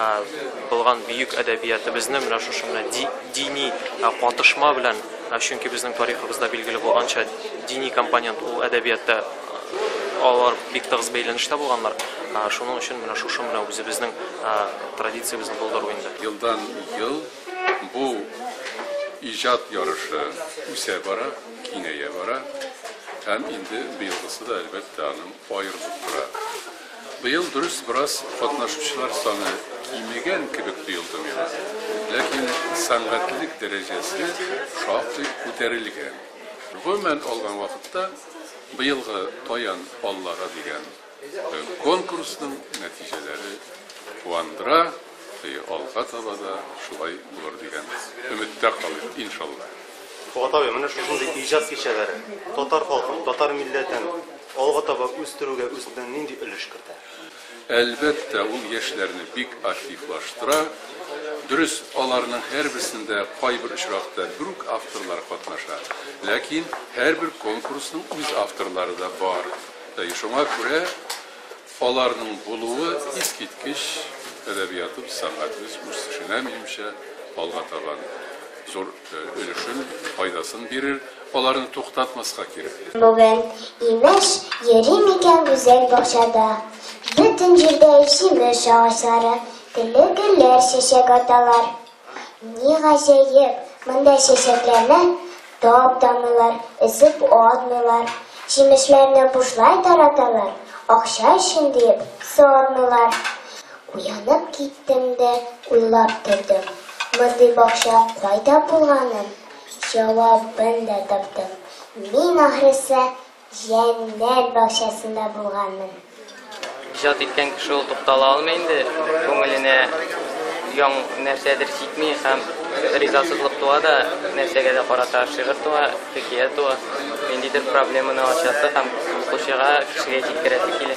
Аз булган бөек әдәбиятыбызны менә шушы менә дини катышма белән, чөнки безнең тарихыбызда билгеле булганча, дини компонент ул әдәбиятта алар бик тыгыз бәйләнештә булганнар. Шуның өчен менә шушы менә үзебезнең традициябезне булдыру инде. Елдан ел бу иҗат ярышы үсә бара, киңәя бара һәм инде быелгысы да, әлбәттә, аның аерылып тора. Быел, дөрес, бераз катнашучылар саны кимегән кебек тоелды миңа, ләкин сәнгатьлелек дәрәҗәсе шактый күтәрелгән. Гомумән алган вакытта, быелгы Таян Аллага дигән конкурсның нәтиҗәләре куандыра. И алга таба да шулай булыр дигән өметтә калыйк, иншалла. Фоат абый, менә шушындый иҗат кичәләре татар халкын, татар милләтен алга таба үстерүгә үзеннән нинди өлеш кертә? Әлбәттә, ул яшьләрне бик активлаштыра. Дөрес, аларның һәрберсендә кайбер очракта бер үк авторлар катнаша, ләкин һәрбер конкурсның үз авторлары да бар. Шуңа күрә, Аларның булуы искиткеч, әдәбиятыбыз, сәнгатебез үсешенә, минемчә, алга таба зур өлешен, файдасын бирер. Аларны туктатмаска кирәк. Бүген, имеш, йөрим икән гүзәл бакчада, Бөтен җирдә җимеш агачлары, Телле гөлләр чәчәк аталар. Ни гаҗәеп, монда чәчәкләрне таптамыйлар, эзеп атмыйлар, җимешләрне бушлай тараталар, акча өчен диеп сатмыйлар. Уянып киттем дә уйлап тордым. Мондый бакча кайда булганын җавабын да таптым. Мин ахрысы Җәннәт бакчасында булганмын. Иҗат иткән кеше ул туктала алмый инде, күңеленә яң нәрсәдер җитми һәм ризасызлык туа да, нәрсәгә дә карата шигырь туа, хикәя туа, ниндидер проблеманы ачасы һәм укучыга, кешегә җиткерәсе килә.